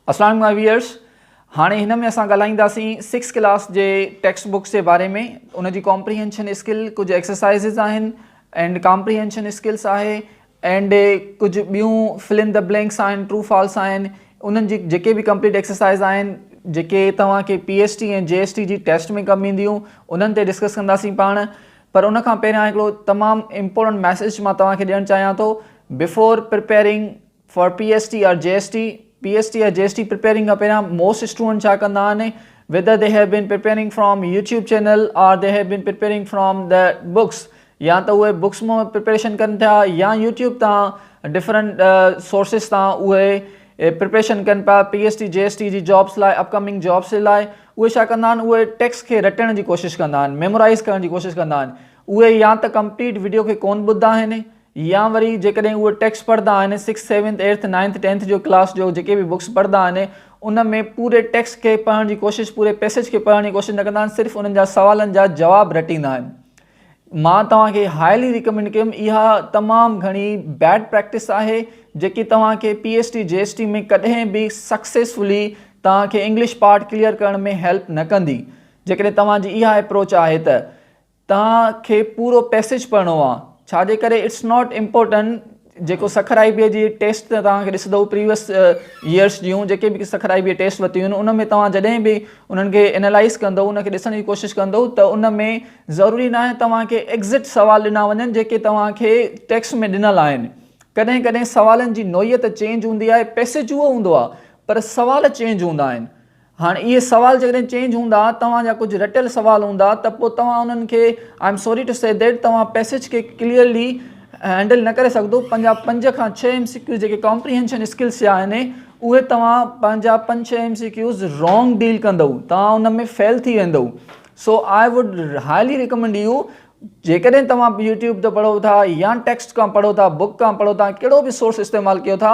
اسلام my viewers هاڻي هن ۾ اسان ڳالهائينداسين سڪس ڪلاس جي ٽيڪسٽ بڪس جي باري ۾ ان جي ڪامپريهنشن اسڪل ڪجهه ايڪسرسائزز آهن اينڊ ڪامپريهنشن اسڪلس آهي اينڊ ڪجهه ٻيون فل ان دي بلينڪس آهن ٽرو فالس آهن انهن جي جيڪي به ڪمپليٽ ايڪسرسائز آهن جيڪي توهان کي P S T ۽ G S T جي ٽيسٽ ۾ ڪم اينديون انهن تي ڊسڪس ڪنداسين پاڻ پر ان کان پهريان هڪڙو تمام امپورٽنٽ ميسج مان توهان کي ڏيڻ چاهيان ٿو before preparing for P S T R G S T P S T R G S T preparing کان پهريان موسٽ اسٽوڊنٽ ڇا ڪندا آهن whether they have been preparing from YouTube channel or they have been preparing from the books يا ته اهي books مان preparation ڪن پيا يا يوٽيوب تان ڊفرنٽ سورسز تان اهي پريپريشن ڪن پيا P S T G S T جي جابس لاء اپ ڪمنگ جابس جي لاء اهي ڇا ڪندا آهن اهي ٽيڪس کي رٽڻ جي ڪوشش ڪندا آهن ميمورائز ڪرڻ جي ڪوشش ڪندا آهن اهي يا ته ڪمپليٽ وڊيو کي ڪون ٻڌندا آهن يا وري جيڪڏهن اهي ٽيڪس پڙهندا آهن six seventh eighth ninth tenth جو ڪلاس جو جيڪي به بڪس پڙهندا آهن ان ۾ پوري ٽيڪس کي پڙهڻ جي ڪوشش پوري پيسج کي پڙهڻ جي ڪوشش نه ڪندا آهن صرف انهن جا سوالن جا جواب رٽيندا آهن مان توهان کي هائلي ريڪمينڊ ڪيم اها تمام گهڻي بيڊ پريڪٽس آهي جيڪي توهان کي P S T G S T ۾ ڪڏهن به سڪسيسفلي توهان کي انگلش پارٽ ڪليئر ڪرڻ ۾ هيلپ نه ڪندي جيڪڏهن توهان جي اها اپروچ آهي ته توهان کي پورو پيسيج پڙهڻو آهي ڇا جي ڪري اٽس ناٽ امپورٽنٽ جيڪو سکر آئي بي جي ٽيسٽ ته توهان کي ڏسندو پريويس يئرس جون جيڪي به سکر آئي بي ٽيسٽ وتيون آهن ان ۾ توهان جڏهن به انهن کي انالائز ڪندو ان کي ڏسڻ جي ڪوشش ڪندو ته ان ۾ ضروري ناهي توهان کي ايگزيڪٽ سوال ڏنا وڃن جيڪي توهان کي ٽيڪسٽ ۾ ڏنل آهن ڪڏهن ڪڏهن سوالن جي نوعيت چينج هوندي آهي پئسيج اهو هوندو آهي پر سوال چينج هوندا آهن هاڻ اهي سوال جيڪڏهن چينج هوندا توهان جا ڪجهه رٽيل سوال هوندا ته پوء توهان انهن کي I am sorry to see that توهان پيسيج کي ڪليئرلي هينڊل نه ڪري سگهندو پنهنجا پنج کان ڇهه ايم سي ڪيوز جيڪي ڪامپريهينشن اسڪلس جا آهن اهي توهان پنهنجا پنج ڇهه M C Qs wrong deal ڪندؤ توهان ان ۾ فيل ٿي ويندؤ so I would highly recommend you جيڪڏهن توهان يوٽيوب تي پڙهو ٿا يا ٽيڪسٽ کان پڙهو ٿا بڪ کان پڙهو ٿا ڪهڙو به سورس استعمال ڪيو ٿا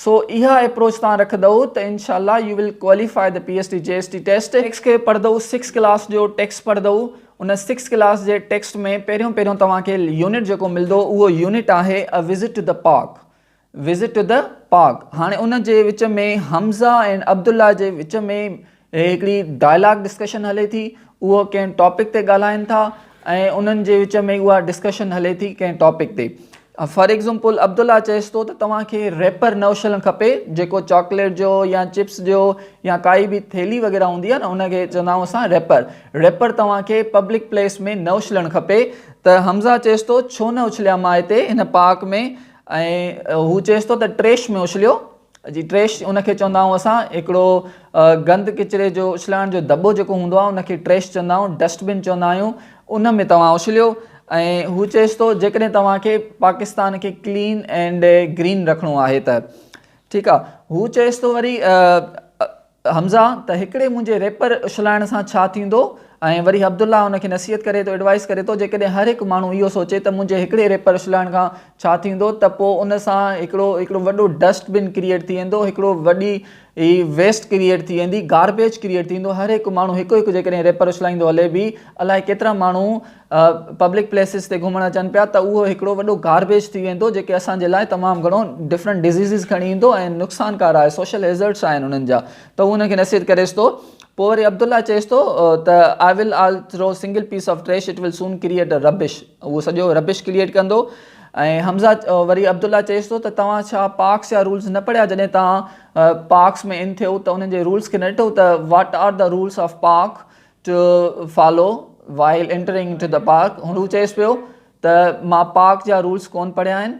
سو اها اپروچ توهان رکندئو ته انشاء الله you will qualify the P S T G S T test. Text کي پڙهندئو سڪس ڪلاس جو ٽيڪسٽ پڙهندئو ان سڪس ڪلاس جي ٽيڪسٽ ۾ پهريون پهريون توهان کي يونٽ جيڪو ملندو اهو يونٽ آهي A Visit to the Park Visit to the Park هاڻي ان جي وچ ۾ حمزه ۽ عبدالله جي وچ ۾ هي هڪڙي ڊائلاگ ڊسڪشن هلي ٿي اهو ڪنهن ٽاپڪ تي ڳالهائن ٿا ۽ انهن جي وچ ۾ اها ڊسڪشن هلي ٿي ڪنهن ٽاپڪ تي فار ايگزمپل عبدالله چيس ٿو ته توهان کي ريپر نوشلن کپي جيڪو چاڪليٽ جو يا چپس جو يا ڪائي به ٿيلي وغيره هوندي آهي نه ان کي چوندا آهيون اسان ريپر ريپر توهان کي پبلڪ پليس ۾ نه اڇلڻ کپي ته حمزه چيس ٿو ڇو نه اڇليا مان هتي هن پارڪ ۾ ۽ هو چيس ٿو ته ٽريش ۾ اڇليو جي ٽريش ان کي چوندا آهيون اسان هڪڙو گند ڪچري جو اڇلائڻ جو دٻو جيڪو هوندو آهي ان کي ٽريش چوندا آهيون ڊسٽ بن چوندا آهيون ان ۾ توهان اڇليو ۽ هو چيس ٿو جيڪڏهن توهان کي پاڪستان کي ڪلين اينڊ گرين رکڻو آهي ته ٺيڪ آهي هو چيس ٿو وري حمزه، ته هڪڙي منهنجي ريپر اڇلائڻ سان ڇا ٿيندو؟ ۽ وري عبدالله ان کي نصيحت ڪري ٿو، ايڊوائيس ڪري ٿو، جيڪڏهن هر هڪ ماڻهو اهو سوچي ته منهنجي هڪڙي ريپر اڇلائڻ کان ڇا ٿيندو ته پوء ان سان هڪڙو هڪڙو وڏو ڊسٽ بن ڪريئيٽ ٿي ويندو، هڪڙو وڏي ويسٽ ڪريئيٽ ٿي ويندي، گاربيج ڪريئيٽ ٿي ويندو، هر هڪ ماڻهو هڪ هڪ جيڪڏهن ريپر اڇلائيندو هلي به الائي ڪيترا ماڻهو پبلڪ پليسز تي گهمڻ اچن پيا ته اهو هڪڙو وڏو گاربيج ٿي ويندو جيڪي اسان جي لاء تمام گهڻو ڊفرنٽ ڊزيزز کڻي ايندو ۽ نقصان ڪار آهي سوشل هيزرڊس آهن انهن جا ته هو ان کي نصير ڪريس ٿو پوء وري عبدالله چيس ٿو ته I will all throw single piece of trash it will soon create a rubbish اهو سڄو ربش ڪريئيٽ ڪندو ۽ حمزه وري عبدالله چيس ٿو ته توهان ڇا پارڪس يا رولز نه پڙهيا جڏهن توهان پارڪس ۾ ان ٿيو ته انهن جي رولز کي نه ڏٺو ته what are the rules of park to follow while entering into the park هن هو چيس پيو ته مان پارڪ جا رولس ڪون پڙهيا آهن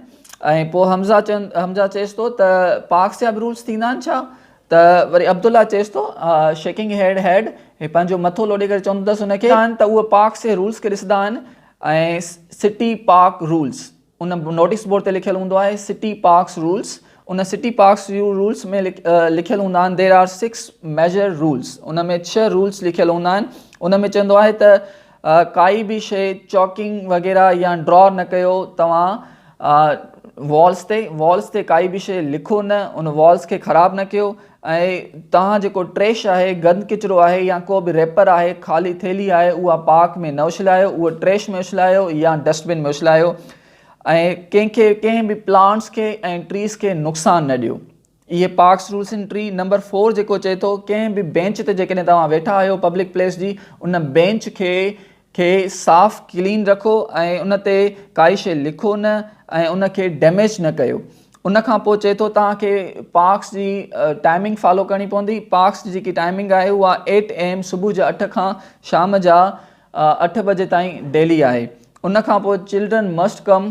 ۽ پوء حمزه چون حمزه چيس ٿو ته پارڪس جا به رولس ٿيندا آهن ڇا ته وري عبدالله چيس ٿو شيڪنگ هيڊ هيڊ هي پنهنجو مٿو لوڏي ڪري چوندو اٿس هن کي ته اهي پارڪس جي رولس کي ڏسندا آهن ۽ سٽي پارڪ رولس ان نوٽيس بورڊ تي لکيل هوندو آهي سٽي پارڪس رولس ان سٽي پارڪس جي رولس ۾ لکيل هوندا آهن there are six major rules ان ۾ ڇهه رولس لکيل هوندا آهن ان ۾ چوندو آهي ته ڪائي به شي چوڪنگ وغيره يا ڊرا نه ڪيو توهان والس تي والس تي ڪائي به شي لکو نه ان والس کي خراب نه ڪيو ۽ توهان جيڪو ٽريش آهي، گند ڪچرو آهي يا ڪو به ريپر آهي، خالي ٿيلهي آهي اها پارڪ ۾ نه اڇلايو، اهو ٽريش ۾ اڇلايو يا ڊسٽ بن ۾ اڇلايو ۽ ڪنهن کي ڪنهن به پلانٽس کي ۽ ٽريز کي نقصان نه ڏيو. اهي parks rules entry number four جيڪو چئي ٿو ڪنهن به بينچ تي جيڪڏهن توهان ويٺا آهيو پبلڪ پليس جي ان بينچ کي کي صاف ڪلين رکو ۽ ان تي ڪائي شي لکو نه ۽ ان کي ڊيميج نه ڪيو ان کان پوء چئي ٿو توهان کي پارڪس جي ٽائمنگ فالو ڪرڻي پوندي پارڪس جي جيڪي ٽائمنگ آهي اها ايٽ اي ايم صبح جا اٺ کان شام جا اٺ بجي تائين ڊيلي آهي ان کان پوء چلڊرن مسٽ ڪم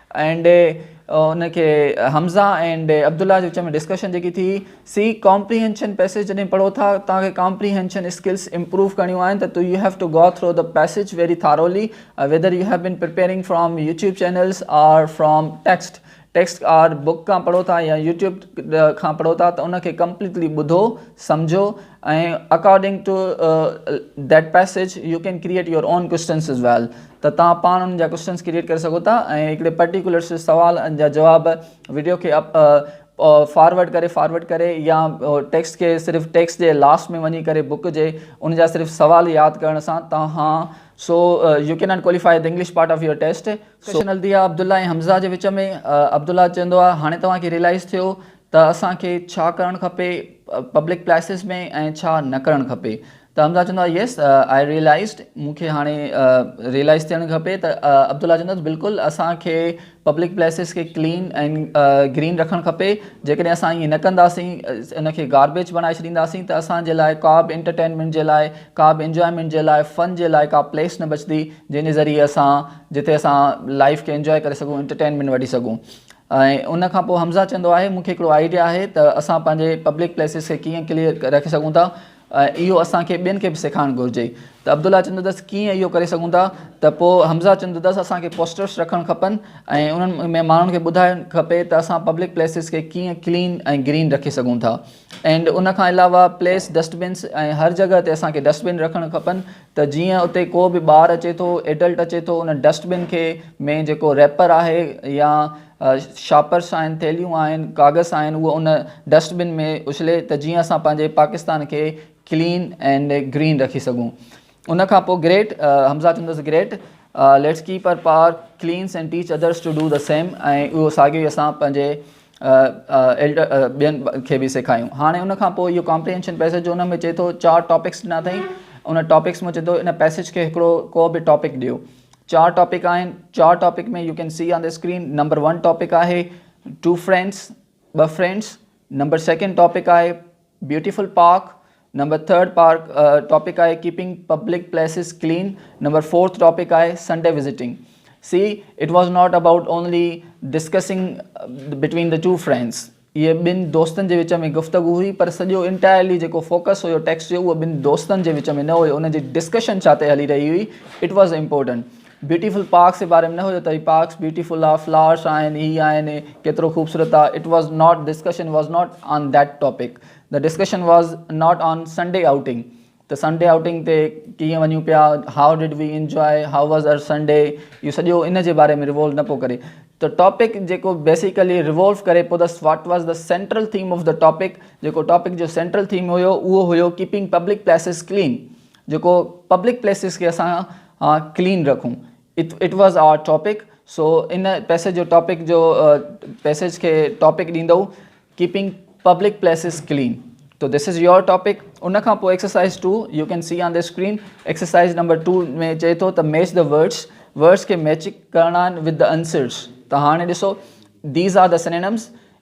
اينڊ ان کي حمزه اينڊ عبدالله جي وچ ۾ ڊسڪشن جيڪي ٿي سي ڪامپريهنشن پيسيج جڏهن پڙهو ٿا توهان کي ڪامپريهنشن اسڪلس امپروو ڪرڻيون آهن ته you have to go through the passage very thoroughly whether you have been preparing from YouTube channels or from text text or book کان پڙهو ٿا يا يوٽيوب کان پڙهو ٿا ته ان کي ڪمپليٽلي ٻڌو سمجهو ۽ according to that passage you can create your own questions as well ته تان پاڻ ان جا ڪوشچنس ڪريئيٽ ڪري سگهو ٿا ۽ هڪڙي پرٽيڪولر سوال جا جواب ويڊيو کي فارورڊ ڪري فارورڊ ڪري يا ٽيڪسٽ کي صرف ٽيڪسٽ جي لاسٽ ۾ وڃي ڪري بڪ جي ان جا صرف سوال ياد ڪرڻ سان توهان so you can not qualify the English part of your test so ڪشن الديا عبدالله ۽ حمزه جي وچ ۾ عبدالله چوندو آهي هاڻي توهان کي ريلائز ٿيو ته اسان کي ڇا ڪرڻ کپي پبلڪ پليسز ۾ ۽ ڇا نه ڪرڻ کپي ته حمزا چوندو آهي يس آء ريئلائزڊ مون کي هاڻي ريئلائز ٿيڻ کپي ته عبدالله چوندو آهي بلڪل اسان کي پبلڪ پليسز کي ڪلين ۽ گرين رکڻ کپي جيڪڏهن اسان ائين نه ڪنداسين ان کي گاربيج بڻائي ڇڏينداسين ته اسان جي لاء ڪا به انٽرٽينمينٽ جي لاء ڪا به انجوائمينٽ جي لاء فن جي لاء ڪا پليس نه بچندي جنهن جي ذريعي اسان جتي اسان لائف کي انجوائي ڪري سگهون انٽرٽينمينٽ وٺي سگهون ۽ ان کان پوء حمزه چوندو آهي مون کي هڪڙو آئيڊيا آهي ته اسان پنهنجي پبلڪ پليسز کي ڪيئن ڪليئر رکي سگهون ٿا ۽ اهو اسان کي ٻين کي به سيکارڻ گهرجي ته عبدالله چوندس ڪيئن اهو ڪري سگهون ٿا ته پوء حمزه چوندس اسان کي پوسٽرس رکڻ کپن ۽ انهن ۾ ماڻهن کي ٻڌائڻ کپي ته اسان پبلڪ پليسز کي ڪيئن ڪلين ۽ گرين رکي سگهون ٿا اينڊ ان کان علاوه پليس ڊسٽ بنس ۽ هر جڳهه تي اسان کي ڊسٽ بن رکڻ کپن ته جيئن اتي ڪو به ٻار اچي ٿو ايڊلٽ اچي ٿو ان ڊسٽ بن کي ۾ جيڪو ريپر آهي يا شاپرس آهن ٿيلهيون آهن ڪاغذ آهن اهو ان ڊسٽ بن ۾ اڇلي ته جيئن اسان پنهنجي پاڪستان کي ڪلين اينڊ گرين رکي سگهون ان کان پوء گريٽ، حمزه چوندس great, let's keep our power cleans and teach others to do the same ۽ اهو ساڳيو ئي اسان پنهنجي ايلڊر ٻين کي به سيکاريون. هاڻي ان کان پوء اهو ڪامپريهينشن پئسيج جو ان ۾ چئي ٿو چار ٽاپڪس ڏنا اٿئي ان ٽاپڪس ۾ چئي ٿو ان پئسيج کي هڪڙو ڪو به ٽاپڪ ڏيو چار ٽاپڪ آهن چار topic ۾ you can see on the screen number one topic آهي ٽو فرينڊس ٻه فرينڊس نمبر سيڪنڊ ٽاپڪ آهي beautiful park, number third park topic آهي keeping public places clean, number fourth topic آهي Sunday visiting. See it was not about only discussing between the two friends هيء ٻن دوستن جي وچ ۾ گفتگو هئي پر سڄو انٽائرلي جيڪو فوڪس هيو ٽيڪسٽ جو اهو ٻن دوستن جي وچ ۾ نه هيو انهن جي ڊسڪشن ڇا تي هلي رهي هئي it was important beautiful parks جي باري ۾ نه هيو ته هي پارڪس بيوٽيفل آهي فلارس آهن هي آهن ڪيترو خوبصورت آهي it was not discussion was not on that topic ته discussion was not on Sunday outing ته سنڊي آئوٽنگ تي ڪيئن وڃون پيا how did we enjoy how was our Sunday اهو سڄو ان جي باري ۾ ريوولو نه پيو ڪري ته ٽاپڪ جيڪو بيسيڪلي ريوولو ڪري پيو ته واٽ واز ته سينٽرل ٿيم آف ته ٽاپڪ جيڪو ٽاپڪ جو سينٽرل ٿيم هيو اهو هيو ڪيپنگ پبلڪ پليسز ڪلين جيڪو پبلڪ پليسز کي اسان آ ڪلين رکون اٽ واز آر ٽاپڪ سو ان پيسيج جو ٽاپڪ جو پيسيج کي ٽاپڪ ڏيندو ڪيپنگ پبلڪ پليسز ڪلين تو دس از يور ٽاپڪ ان کان پوء exercise two you can see on the screen exercise number two ۾ چئي ٿو ته ميچ دا ورڊس ورڊس کي ميچ ڪرڻا آهن وٿ دا انسرس ته هاڻي ڏسو these are the synonyms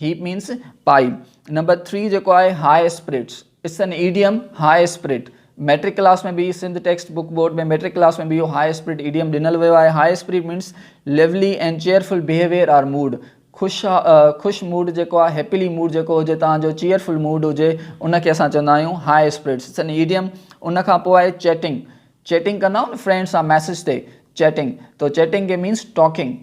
happy means پائي. نمبر ٿري جيڪو آهي high spirits it's an idiom high spirit matric class ۾ به Sindh text book board ۾ matric class ۾ به اهو هاء اسپرٽ ايڊيم ڏنل ويو آهي high spirit means lively and cheerful behaviour or mood خوش خوش موڊ جيڪو آهي هيپلي موڊ جيڪو هجي تان جو چيئرفل موڊ هجي ان کي اسان چوندا آهيون high spirits it's an idiom ان کان پوء آهي چيٽنگ چيٽنگ ڪندا آهيو نه فرينڊ سان ميسج تي چيٽنگ تو چيٽنگ کي مينس ٽاڪنگ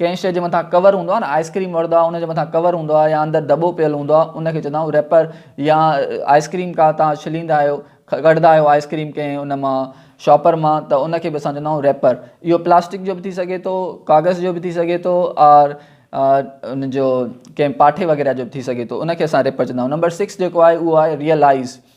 ڪنهن شيء جي مٿان ڪور هوندو آهي نه آئس ڪريم وڙهدو آهي ان جي مٿان ڪور هوندو آهي يا اندر دٻو پيل هوندو آهي ان کي چوندا آهيون ريپر يا آئس ڪريم ڪا تان ڇليندا آهيو ڪڍندا آهيو آئس ڪريم ڪنهن ان مان شاپر مان ته ان کي به اسان چوندا آهيون ريپر اهو پلاسٽڪ جو به ٿي سگهي ٿو ڪاغذ جو به ٿي سگهي ٿو اور ان جو ڪنهن پاٺي وغيره جو به ٿي سگهي ٿو ان کي اسان ريپر چوندا آهيون نمبر سڪس جيڪو آهي اهو آهي ريئلائز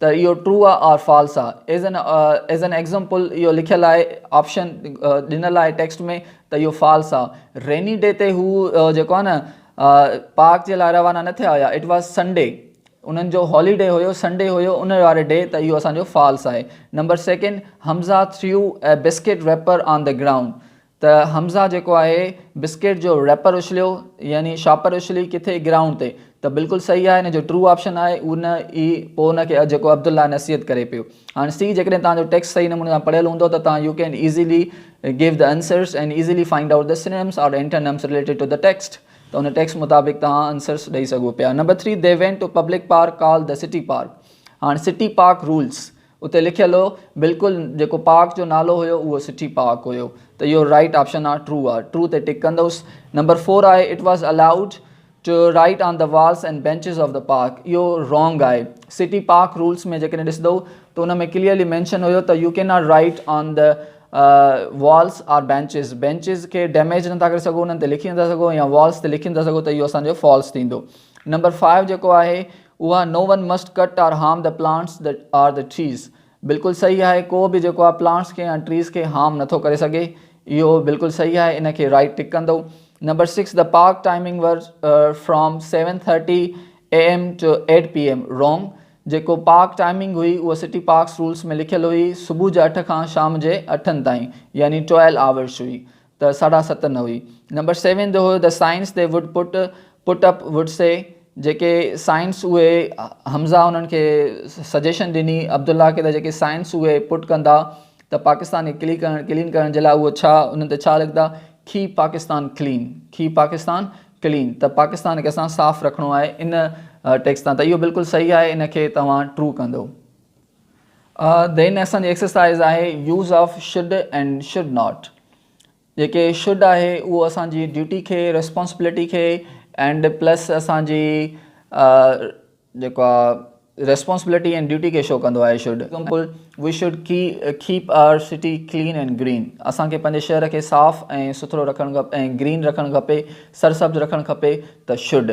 ته اهو ٽرو آ آر فالس آ as an as an example اهو لکيل آهي آپشن ڏنل آهي ٽيڪسٽ ۾ ته اهو فالس آ ريني ڊي تي هو جيڪو آ نه پارڪ جي لاء روانا نه ٿيا هيا اٽ واز سنڊي انهن جو هالي ڊي هيو سنڊي هيو ان واري ڊي ته اهو اسان جو فالس آهي number second Hamza threw a biscuit wrapper on the ground ته حمزه جيڪو آهي بسڪيٽ جو ريپر اڇليو يعني شاپر اڇلي ڪٿي گرائونڊ تي ته بلڪل صحيح آهي ان جو ٽرو آپشن آهي ان ئي پوء ان کي جيڪو عبدالله نصيحت ڪري پيو هاڻ سي جيڪڏهن توهان جو ٽيڪسٽ صحيح نموني سان پڙهيل هوندو ته توهان you can easily give the answers and easily find out the synonyms or antonyms related to the text ته ان ٽيڪسٽ مطابق توهان انسرس ڏئي سگهو پيا number three they went to public park called the city park هاڻ city park rules اتي لکيل هو بلڪل جيڪو پارڪ جو نالو هيو اهو سٽي پارڪ هيو ته يور رائيٽ آپشن آ ٽرو آ ٽرو تي ٽڪ ڪندوس نمبر فور آهي it was allowed to write on the walls and benches of the park اهو رانگ آهي سٽي پارڪ رولس ۾ جيڪڏهن ڏسندو ته ان ۾ ڪليئرلي مينشن هيو ته you can not write on the walls or benches benches کي ڊيميج نٿا ڪري سگهو انهن تي لکي نٿا سگهو يا والس تي لکي نٿا سگهو ته اهو اسان جو فالس ٿيندو نمبر فائيو جيڪو آهي اها no one must cut or harm the plants the or the trees بلڪل صحيح آهي ڪو به جيڪو آهي پلانٽس کي يا ٽريز کي هارم نٿو ڪري سگهي اهو بلڪل صحيح آهي ان کي رائيٽ ٽڪ ڪندو number six the park timing were from seven thirty A M to eight P M wrong جيڪو پارڪ ٽائمنگ هئي اها سٽي پارڪس رولس ۾ لکيل هئي صبح جي اٺ کان شام جي اٺن تائين يعني ٽويلو آورس هئي ته ساڍا ست نه هئي. نمبر سيون جو هيو ته signs they would put put up would see جيڪي سائنس اهي حمزه انهن کي سجيشن ڏني عبدالله کي ته جيڪي سائنس اهي پٽ ڪندا ته پاڪستان کي ڪلي ڪرڻ ڪلين ڪرڻ جي لاء اهو ڇا انهن تي ڇا لکندا کي پاڪستان ڪلين کي پاڪستان ڪلين ته پاڪستان کي اسان صاف رکڻو آهي ان ٽيڪس تان ته اهو بلڪل صحيح آهي ان کي توهان ٽرو ڪندو. دين ۾ اسان جي ايڪسرسائيز آهي use of should and should not جيڪي شڊ آهي اهو اسان جي ڊيوٽي کي ريسپانسبلٽي کي اينڊ پلس اسان جي جيڪو آهي ريسپانسبلٽي اينڊ ڊيوٽي کي شو ڪندو آهي شڊ ايگزامپل وي شڊ ڪي keep our city clean and green اسان کي پنهنجي شهر کي صاف ۽ سٿرو رکڻ کپي ۽ گرين رکڻ کپي سرسبز رکڻ کپي ته شڊ